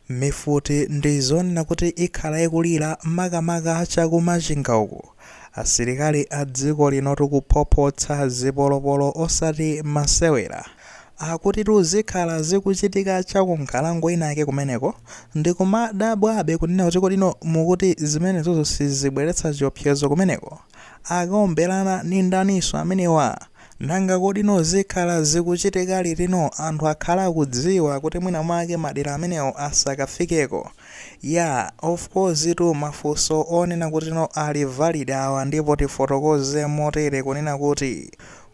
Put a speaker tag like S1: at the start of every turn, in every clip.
S1: Mifuti ndi zonena kuti ikhala ikulira makamaka cha ku Machinga uku asilikali a dziko linotu kuphophotsa zipolopolo osati masewera. Akutitu zikhala zikuchitika cha ku nkhalango inayake kumeneko. Ndikumadabwabe kunena kuti kodino mukuti zimenezozo sizibweretsa chiopsezo kumeneko? Akaomberana ndi ndaninso amenewa? Nanga kodino zikhala zikuchitika litino anthu akhala akudziwa kuti mwina mwake madera amenewo asakafikeko? Yaa, of course tu mafunso onena kutino ali valid awa ndipo tifotokoze motere kunena kuti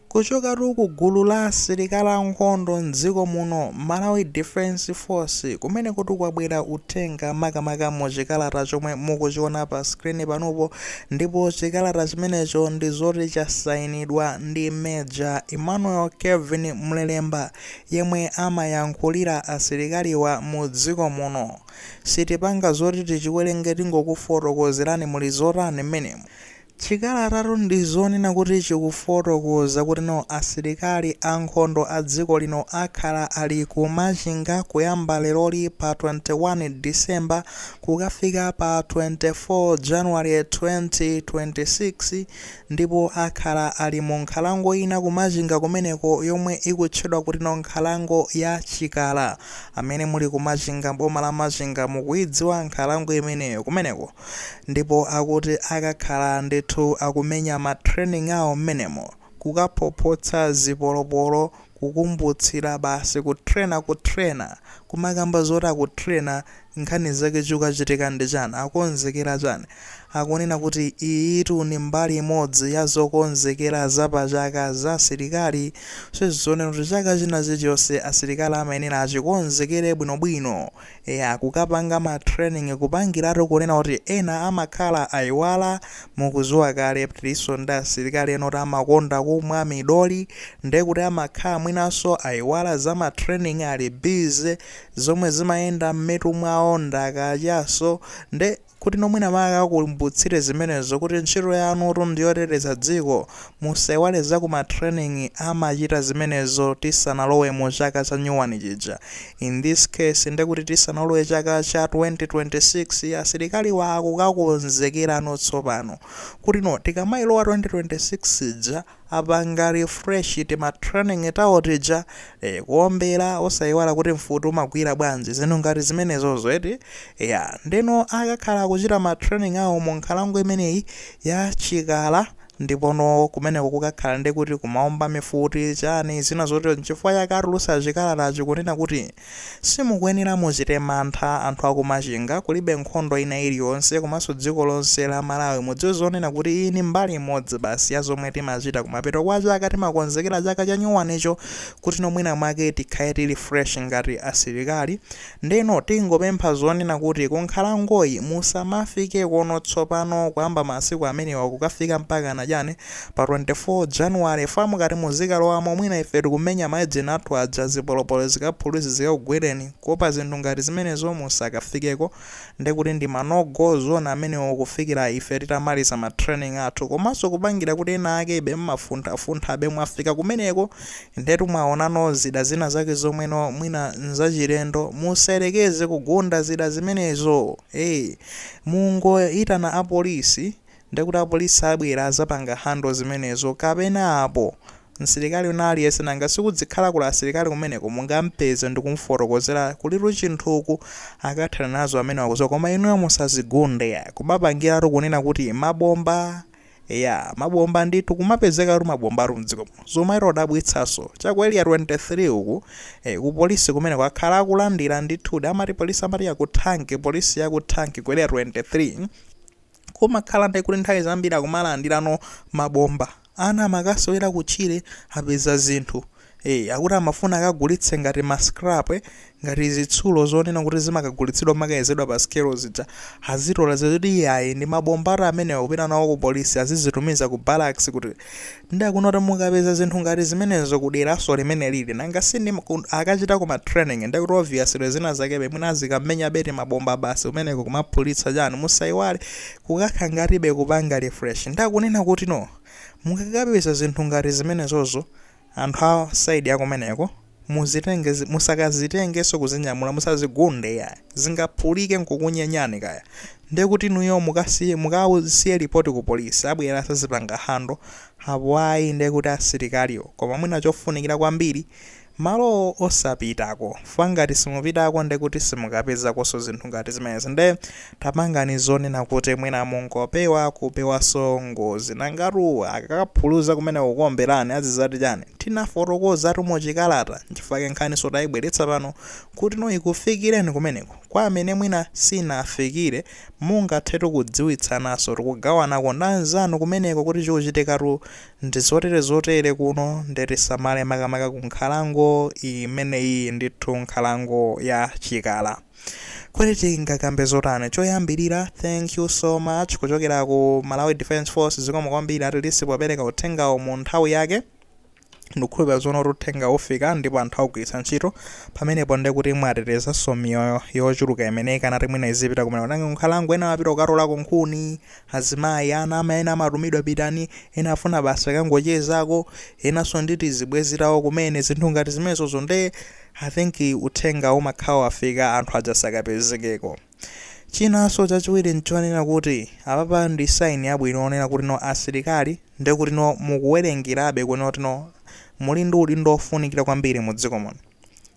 S1: kuchokatu ku gulu la asilikali a nkhondo m'dziko muno, Malawi Defence Force, kumenekotu kwabwera uthenga makamaka mu chikalata chomwe mukuchiona pa screen panupo, Ndipo chikalata chimenecho ndi zoti chasainidwa ndi Major Emmanuel Kevin Mlelemba yemwe amayankhulira asilikaliwa mu dziko muno. Sitipanga zoti tichiwerenge tingokufotokozerani muli zotani mmenemo. Chikalatatu ndi zonena kuti chikufotokoza kutino asilikali a nkhondo a dziko lino akhala ali ku Machinga kuyamba leroli pa 21 December kukafika pa 24 January 2026 ndipo akhala ali mu nkhalango ina ku Machinga kumeneko yomwe ikutchedwa kutino nkhalango ya Chikala. Amene muli ku Machinga m'boma la Machinga mukuidziwa nkhalango imeneyo kumeneko ndipo akuti akakhala ndithu akumenya ma training awo m'menemo kukaphophotsa zipolopolo kukumbutsira basi kutrena kutrena kumakamba zoti akutrena nkhani zake chikuchitika ndi chani akonzekera chani akunena kuti iyitu ndi mbali imodzi ya zokonzekera za pa chaka za asilikali so zonena kuti chaka china chilichonse asilikali amayenera achikonzekere bwinobwino Eya kukapanga ma training kupangiratu kunena kuti ena amakhala ayiwala mukudziwa kale kuti tilinso ndi asilikali ena kuti amakonda kumwa midoli nde kuti amakhala mwinanso ayiwala za ma training ali busy zomwe zimayenda mmitu mwawo ndi za kachaso nde Kutino mwina mwake akakumbutsire zimenezo kuti ntchito yanutu ndi yoteteza dziko, musaiwale za ku ma training amachita zimenezo tisanalowe mu chaka cha nyuwani chija. In this case nde kuti tisanalowe chaka cha 2026 asilikaliwa akukakonzekerano tsopano kutino tikamailowa 2026 ija, apanga refresh tima training tawo tija eh, kuombera osaiwala kuti mfuti umagwira bwanji zinthu ngati zimenezozo eti ya ndeno akakhala akuchita ma training awo mu nkhalango imeneyi ya Chikala ndipono kumeneko kukakhala ndi kuti kumaomba mifuti chani zina zotero nchifukwa chake atulutsa chikalatachi kunena kuti Simukuyenera muchite mantha anthu aku Machinga kulibe nkhondo ina iliyonse komanso dziko lonse la Malawi mudziwe zonena kuti iyi ndi mbali imodzi basi ya zomwe timachita kumapeto kwa chaka timakonzekera chaka chanyuwanicho kuti no mwina mwake tikhale tili fresh ngati asilikali ndeno tingopempha zonena kuti kunkhalangoyi musamafikekono tsopano kuyamba masiku amenewa kukafika mpakana chani pa 24 January fa mukati muzikalowamo mwina ife tikumenya ma engine athu aja zipolopolo zikaphuluzi zikakugwereni kuopa zinthu ngati zimenezo musakafikeko ndekuti ndi ma no go zone amenewo kufikira ife titamaliza ma training athu komanso kupangira kuti ena akebe mmafunthafunthabe mwafika kumeneko ndetu mwaonano zida zina zake zomweno mwina nzachilendo musayerekeze kugunda zida zimenezo ee mungoitana a police Ndekuti apolisi abwera azapanga handle zimenezo kapenapo msilikali wina aliyense nanga si kudzikhala kuli asilikali kumeneko mungampeze ndikumufotokozera kulitu chinthuku akathana nazo amenewa akuziwa koma inuyo musazigunde kumapangiratu kunena kuti mabomba eya mabomba ndithu kumapezekatu mabombatu mdziko muno zomwe zodabwitsaso cha ku area 23 uku eh, ku polisi kumeneko akhala akulandira ndithudi amati polisi amati yakuthanki polisi yakuthanki ku area 23 kumakhala ndi kuti nthawi zambiri akumalandirano mabomba ana amakasewera kutchire apeza zinthu e, akuti amafuna akagulitse ngati ma scrap eh, ngati zitsulo zonena kuti zimakagulitsidwa zimakayezedwa pa scale zija azitola zoti iyayi ndi mabomba ati amenewa kupita nawo ku polisi azizitumiza ku barracks kuti Nde akunena kuti mukapeza zinthu ngati zimenezo ku deraso limene lili nanga si ndi akachitako ma training ndekuti obviously zina zakebe mwina azikamenyabe timabomba basi kumeneko kumaphulitsa chani musaiwale kukakha ngatibe kupanga refresh nde akunena kuti no mukakapeza zinthu ngati zimenezozo anthu a side ya kumeneko Muzitenge zi, musakazitengenso kuzinyamula, musazigunde iyayi. Zingaphulike nkukunyenyani kaya. Ndiye kuti inuyo mukasiye, mukasiye report ku police, abwera azazipanga handle, apo ayi ndiye kuti asilikaliwo. Koma mwina chofunikira kwambiri, malowo osapitako. Fukwa ngati simupitako ndiye kuti simukapezakonso zinthu ngati zimenezi. Nde. Tapangani zonena kuti mwina mungopewa kupewaso ngozi nangatu akakaphuluza kumeneko nkukuomberani azizati chani? Tinafotokozatu mu chikalata nchifukwa chake nkhaniso taibweretsa pano kuti no ikufikireni kumeneko kwa amene mwina siinafikire mungathetu kudziwitsanaso tikugawanako ndi anzanu kumeneko kuti chikuchitikatu ndi zotere zotere kuno nde tisamale makamaka ku nkhalango imeneyiyi ndithu nkhalango ya Chikala. Kodi tingakambe zotani? Choyambilira thank you so much kuchokera ku Malawi Defence Force zikomo kwambiri atilisi popereka uthengawu mu nthawi yake. Ndikukhulupira zoona kuti uthengawu ufika ndipo anthu augwiritsa ntchito. Pamenepo nde kuti mwatetezanso miyoyo yochuluka imene ikanati mwina izipita kumene kukanga ku nkhalango, ena amapita kukatolako nkhuni, azimayi, ana ama ena amatumidwa pitani, ena afuna basi akangochezako, enanso ndi tizibwezi tawo kumene, zinthu ngati zimenezo nde I think uthenga umakhala wafika anthu aja sakapezekeko. Chinaso chachiwiri nchonena kuti apapa ndi sign yabwino onena kuti no asilikali ndekuti no mukuwerengerabe kunena kuti no muli ndi udindo ofunikira kwambiri mu dziko muno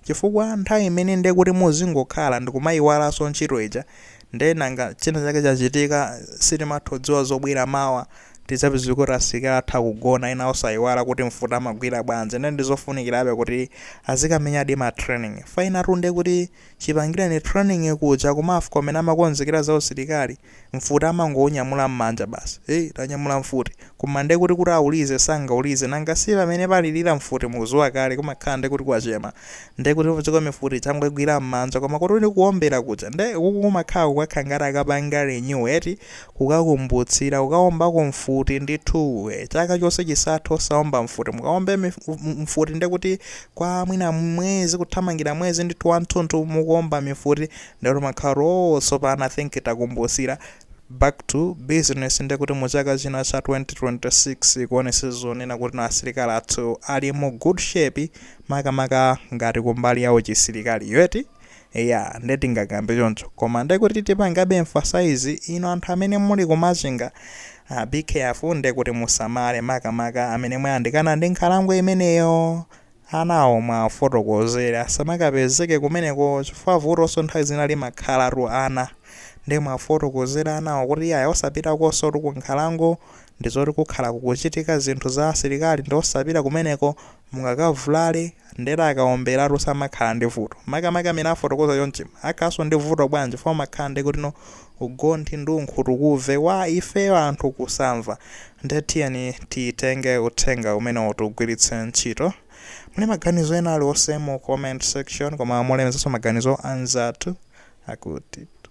S1: chifukwa nthawi imene ndekuti muzingokhala ndikumayiwalaso ntchito ija Nde nanga china chake chachitika sitimathodziwa zobwera mawa tidzapezeke kuti asilikali athu akugona ena osayiwala kuti mfuti amagwira bwanji nde ndizofunikirabe kuti azikamenyadi ma training fainatu ndekuti chipangireni training kuja ku MAFCO kumene amakonzekera za usilikali mfuti amangoinyamula mmanja basi hey tanyamula mfuti koma ndekuti kuti ayilize sangayilize nanga sipamene palilira mfuti mukuziwa kale kumakhala ndekuti kwachema nde kuti udziko mifuti akungoigwira m'manja koma kuti uli kuombera kuja nde kuku kumakhala kukakhala ngati akapanga renew eti kukakumbutsira kukaombako mfuti ndithuu eh, chaka chonse chisathe osaomba mfuti mukaombe mif- m- m- mfuti nde kuti kwa mwina mwezi kuthamangira mwezi ndithu wanthunthu mukuomba mifuti nde kuti mumakhala kuti oh tsopano i think takumbutsira Back to business nde kuti mu chaka chino cha 2026 zikuonetsa zonena kuti no asilikali athu ali mu good shape makamaka ngati kumbali ya chisilikaliyo eti eya nde tingakambe choncho koma nde kuti tipangabe emphasize inu anthu amene muli ku Machinga ah, be careful nde kuti musamale makamaka amene mwayandikana ndi nkhalango imeneyo anawo mwawafotokozere asamakapezeke kumeneko chifukwa vutoso nthawi zina limakhalatu ana nde mwafotokozere anawo kuti iyayi osapitakosotu ku nkhalango ndizoti kukukhala kukuchitika zinthu za asilikali nde osapita kumeneko mungakavulale ndekuti akaombelatu samakhala ndi vuto makamaka amene afotokoza chonchi akhalaso ndi vuto bwanji chifukwa umakhala ndekuti no ugonthi ndi unkhutukuve wa ifeyo anthu kusamva Nde tiyeni titenge uthenga umenewu tiugwiritse ntchito. Muli maganizo ena aliwonse mu comment section koma mulemekezenso maganizo a anzathu akutitu.